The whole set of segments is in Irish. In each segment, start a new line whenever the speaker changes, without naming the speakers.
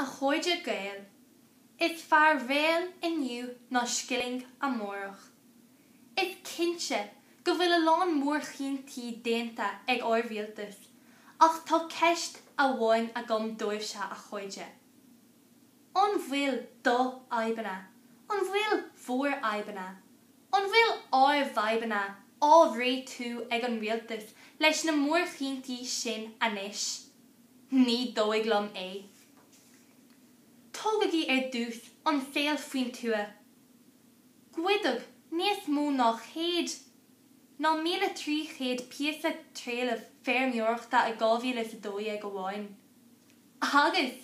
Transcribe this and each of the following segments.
A chairde Gael, is fearr réal inniu ná scilling amárach. Is cinnte go bhfuil a lán mórchinntí déanta ag ár rialtas ach tá ceist amháin agam dóibhse, a chairde. An bhfuil d'fhadhbanna, an bhfuil bhur fhadhbanna, an bhfuil ár bhfadhbanna á réitiú ag an rialtas leis na mórchinntí sin anois? Ní dóigh liom é. Tógaigí ar dtús an saol faoin tuath. Goideadh níos mó ná céad ná míle trí chéad píosa trealaimh feirmeoireachta i dhá mhíle is a dó dhéag amháin. Agus,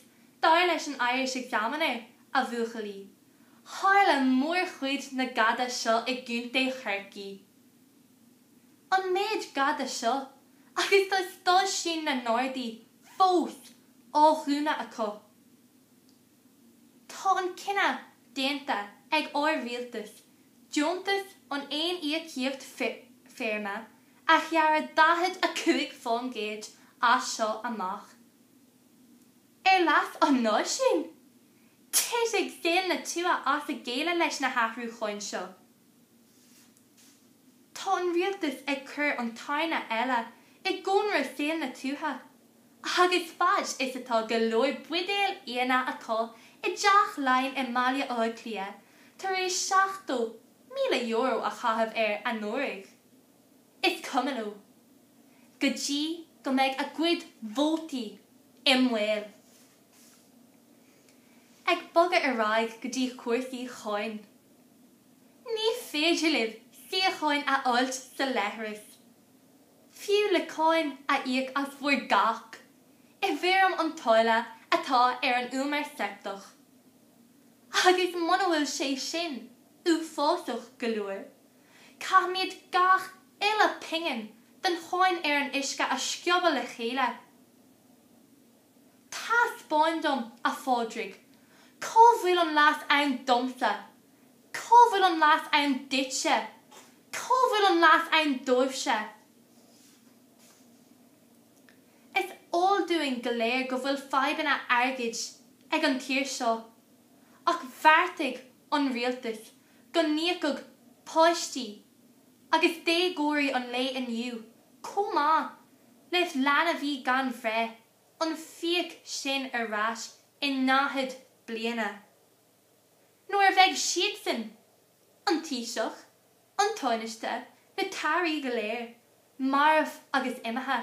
dar leis an Irish Examiner, a bhuachaillí, tharla mórchuid na gada seo i gContae Chorcaí. An méid gada seo agus tá stáisiúin na nGardaí fós á dhúnadh acu. Tá an cinneadh déanta ag ár rialtas deontas an aon íocaíocht feirme a ghearradh 45% as seo amach. Ar leas an náisiúin? Titfidh saol na tuaithe as a gcéile leis na hathrúcháin seo. Tá an rialtas ag cur an tairne eile i gcónra saol na tuaithe, agus faid is atá go leor buidéal fhíona acu i dTeach Laighean i mBaile Átha Cliath tar éis €70,000 a chaitheamh air anuraidh, is cuma anois, go dtí go mbeidh a gcuid vótaí i mbaol. Ag bogadh ar aghaidh go dtí cúrsaí cháin. Ní féidir libh síocháin a fháilt sa leithreas, fiú le cáin a íoc as bhur gcac, i bhfoirm an táille atá ar an umar seipteach. Agus muna bhfuil sé sin uafásach go leor, caithfimid gach uile pingin den cháin ar an uisce a scríobadh le chéile. Taispeáin dom, a Phádraig, cá bhfuil an leas ann domsa, cá bhfuil an leas ann duitse, cá bhfuil an leas ann daoibhse. Is eol dúinn go léir go bhfuil fadhbanna airgid ag an tír seo, ach bheartaigh an rialtas go n-íocfadh páistí, agus déagóirí an lae inniu chomh maith le leanbhaí gan bhreith, an fiach sin ar ais i ndaichead bliana. Nuair a bheidh siadsan, an Taoiseach, an Tánaiste, na tAirí go léir, marbh agus imithe,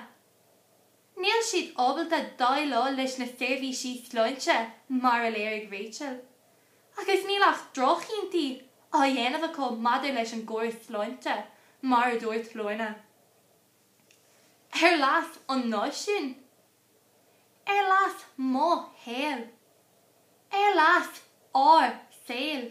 Níl siad ábalta déileáil leis na seirbhísí sláinte, mar a léirigh Rachel, agus níl ach droch-chinntí á ndéanamh acu maidir leis an gcóras sláinte, mar a dúirt Lorna. Ar leas an náisiúin? Ar leas mo shaoil? Ar leas ár saoil?